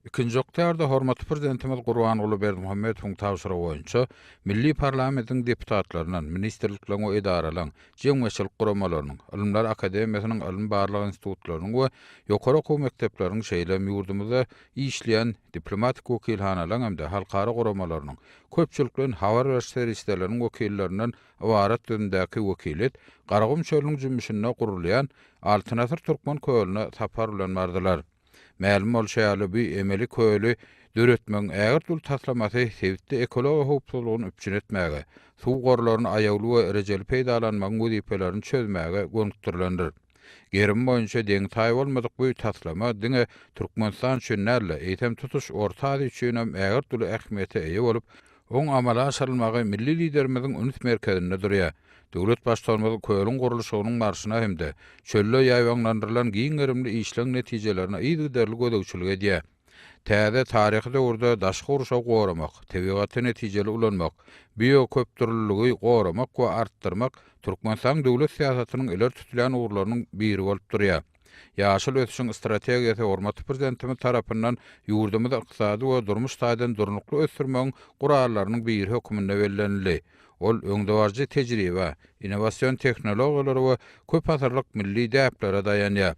Ikinji oktaýarda hormatly Prezidentimiz Gurbanguly Berdimuhamedowyň tabşyrygy boýunça milli parlamentiň deputatlaryndan, ministrlikleriň we edaralaryň, jemgyýetçilik guramalarynyň, Ylymlar akademiýasynyň ylmy-barlag institutlarynyň we ýokary okuw mekdepleriniň, şeýle hem ýurdumyzda işleýän diplomatik wekilhanalaryň hem-de halkara guramalarynyň, köpçülikleýin habar beriş serişdeleriniň wekillerinden ybarat düzümdäki wekiliýet Garagum çölüniň jümmüşinde gurulýan Altyn asyr Türkmen kölüne sapar bilen bardylar. Mälim bolşy ýaly, bu emeli köli döretmegiň ägirt-uly taslamasy sebitde ekologiýa howpsuzlygyny üpjün etmäge, suw gorlaryny aýawly we rejeli peýdalanmagyň wezipelerini çözmäge gönükdirilendir. Gerim boýunça deňi-taýy bolmadyk bu taslama diňe Türkmenistan üçin däl-de, eýsem, tutuş Orta Aziýa üçin hem ägirt uly ähmiýete eýe bolup, Oň amala aşyrylmagy milli Liderimiziň üns merkezinde durýar. Döwlet Baştutanymyz kölüň gurluşygynyň barşyna hem-de çölde ýaýbaňlandyrylan giň gerimli işleň netijelerine yzygiderli gözegçilik edýär. Täze taryhy döwürde daşky gurşawy goramak, tebigaty netijeli ulanmak, bioköpdürlüligi goramak we artdyrmak Türkmenistanyň döwlet syýasatynyň ileri tutulýan ugurlarynyň biri bolup durýar. Ýaşyl ösüşiň strategiýasy hormatly Prezidentimiz tarapyndan ýurdumyzy ykdysady we durmuş taýdan durnukly ösdürmegiň gurallarynyň biri hökmünde bellenildi. Ol öňdebaryjy tejribä, innowasion tehnologiýalara we köpasyrlyk milli däplere daýanýar.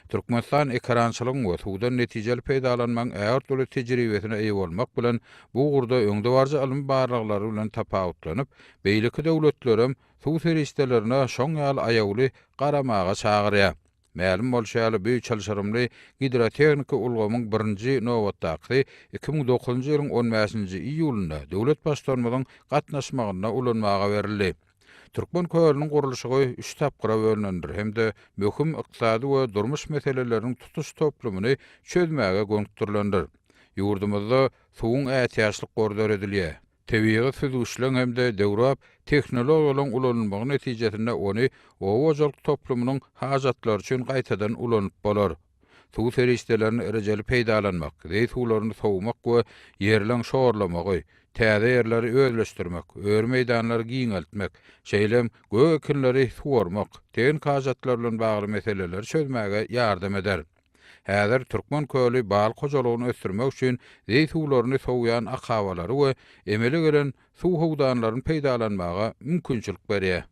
Türkmenistan ekerançylygyň we suwdan netijeli peýdalanmagyň ägirt uly tejribesine eýe bolmak bilen, bu ugurda öňdebaryjy ylmy barlaglary bilen tapawutlanyp, beýleki döwletlerem suw serişdelerine şoň ýaly aýawly garamaga çagyrýar. Mälim bolşy ýaly, bu çylşyrymly gidrotehniki ulgamyň birinji nobatdakysy iki müň dokuzynjy ýylyň on bäşinji iýulynda döwlet Baştutanymyzyň gatnaşmagynda ulanmaga berildi. Türkmen kölüniň gurluşygy üç tapgyra bölünendir hem-de möhüm ykdysady we durmuş meseleleriniň tutuş toplumyny çözmäge gönükdirilendir. Ýurdumyzda suwuň ätiýaçlyk gory döredilýär. Tebigy süzgüçleň hem-de döwrebap tehnologiýalaryň ulanylmagy netijesinde ony oba hojalyk toplumynyň hajatlary üçin gaýtadan ulanyp bolar. Suw serişdelerini rejeli peýdalanmak, zeý suwlaryny sowmak we ýerleň şorlamagy, täze ýerleri özleşdirmek, öri meýdanlary giňeltmek, şeýle hem gök ekinleri suwarmak, tehniki hajatlar bilen bagly meseleleri çözmäge ýardam eder. Häzir Türkmen köli balyk hojalygyny ösdürmek üçin zeý suwlaryny sowýan akabalary we emele gelen suw howdanlaryny peýdalanmaga mümkinçilik berýär.